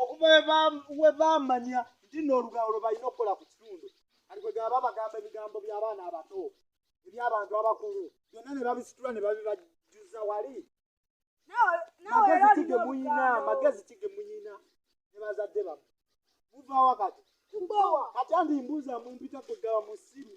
okuva we baamanya nti nno olugambo lwe balina okukola ku kitundu kati kwe gaba bagamba ebigambo by'abaana abato eby'abantu abakulu byonna ne babisitula ne babibajjuza wali magezi ki ge muyina magezi ki ge muyina ne bazadde bamwe muvaawa kati kati andi mbuuza mumpita kwe gaba musiru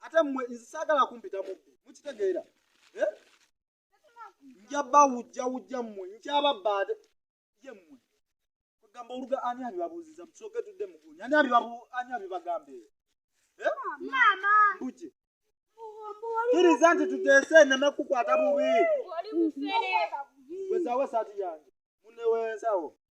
ate mwe nze saagala kumpita mubbi mukitegeera eh? nja bawujja wujja mmwe nkyababba ate ye mmwe kugamba oluga ani abibabuuziza musooke tudde mugunya ani ani abibagambe eh? mbuje kiriza nti tuteese eneme kukwata bubi wezawo esaati yange munewensawo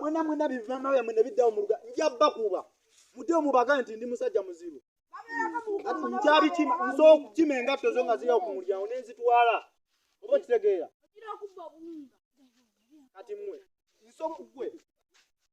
mwena mwena bivamawe mwe nebiddawo muluga nja bakuba mute omubaga nti ndi musajja muzibu kati nkyabikima nso okukima engatto zo nga ziryawo ku mulyango nenzitwala oba okitegeera kati mwe nso gwe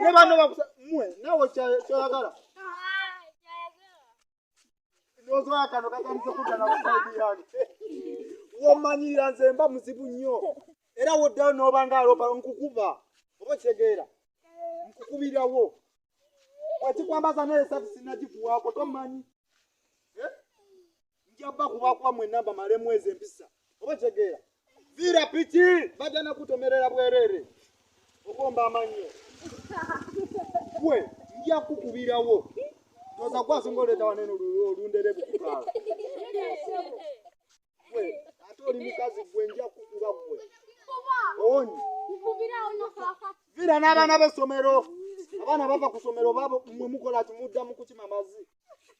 ne banno bakusa mwe nawe kyoyagala nozoya kano kajanise kudana kusaidi yange womanyira nze mba muzibu nnyo era woddayo noba nga alopa nkukuba oba okitegeera nkukubirawo wekikwambaza naye sati sinagikuwaako tomanyi eh? njabba kubakuba mwenna mbamalemu ezo empisa oba kitegeera viira piki bajja nakutomerera bwereere okomba amannyo gwe nja kukubirawo oza kwasonga oleeta wanene olundere bukukaala gwe ate oli mukazi gwe nja kukuba gwe owonyi viira n'abaana b'essomero abaana bava ku ssomero babo mwe mukola kimuddamu kukima mazi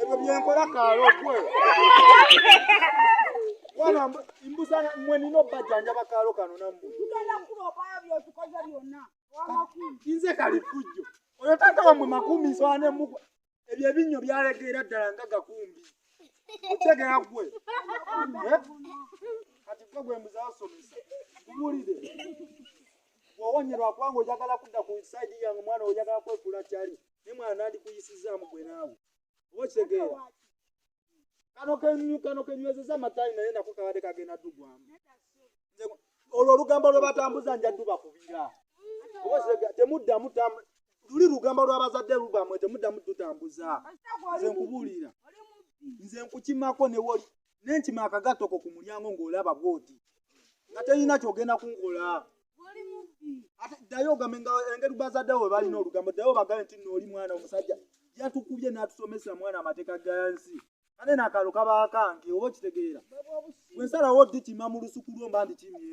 ebyo byenkola kaalo gwe wana mbuza mwe nina obbajjanjaba kaalo kano nammwe nze kali fujjo oyo taata wamwe makumi nswana emukwa ebyo ebinnyo byalegeera ddala nga gakumbi otegera gwe eh? kati gwe gwe mbuza asomesa kubuulire wawonyerwa kubanga oyagala kudda ku saidi yange omwana oyagala kwekula kyali ne mwana nandikuyisizaamu gwe naawe oba okitegeera kano kenyu kano kenywezeza amatayi naye nako kabadde kagenda dugwamu olwo olugambo lwe batambuza nja duba kubira oba okitegeera temuddamu luli lugamba lwabazadde lubamwe temuddamu tutambuza nze nkubuulira nze nkukimako newoli nenkima akagatto ko ku mulyango ng'olaba bwoti nga teyina kyogenda kunkola ate ddayo ogambe nga engeri bazadde we balina olugambo ddayo obagambe nti nooli mwana omusajja yatukubye n'atusomesa mwana amateeka ga nsi kale nakalo kaba kange oba okitegeera bwe nsalawo ddi kima mu lusuku lwo mba ndi kimye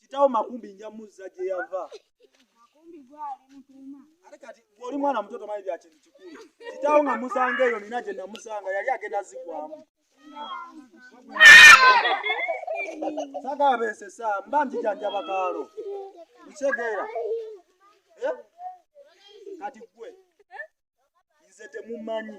kitawo makumbi nja muzza gye yava ate kati bw'oli mwana muto tomanyi bya kintu kikulu kitawo nga musanga eyo nina gye namusanga yali agenda zigwamu sagabeesesa mba njijanjaba kaalo nkitegeera eh? kati gwe nze temumanyi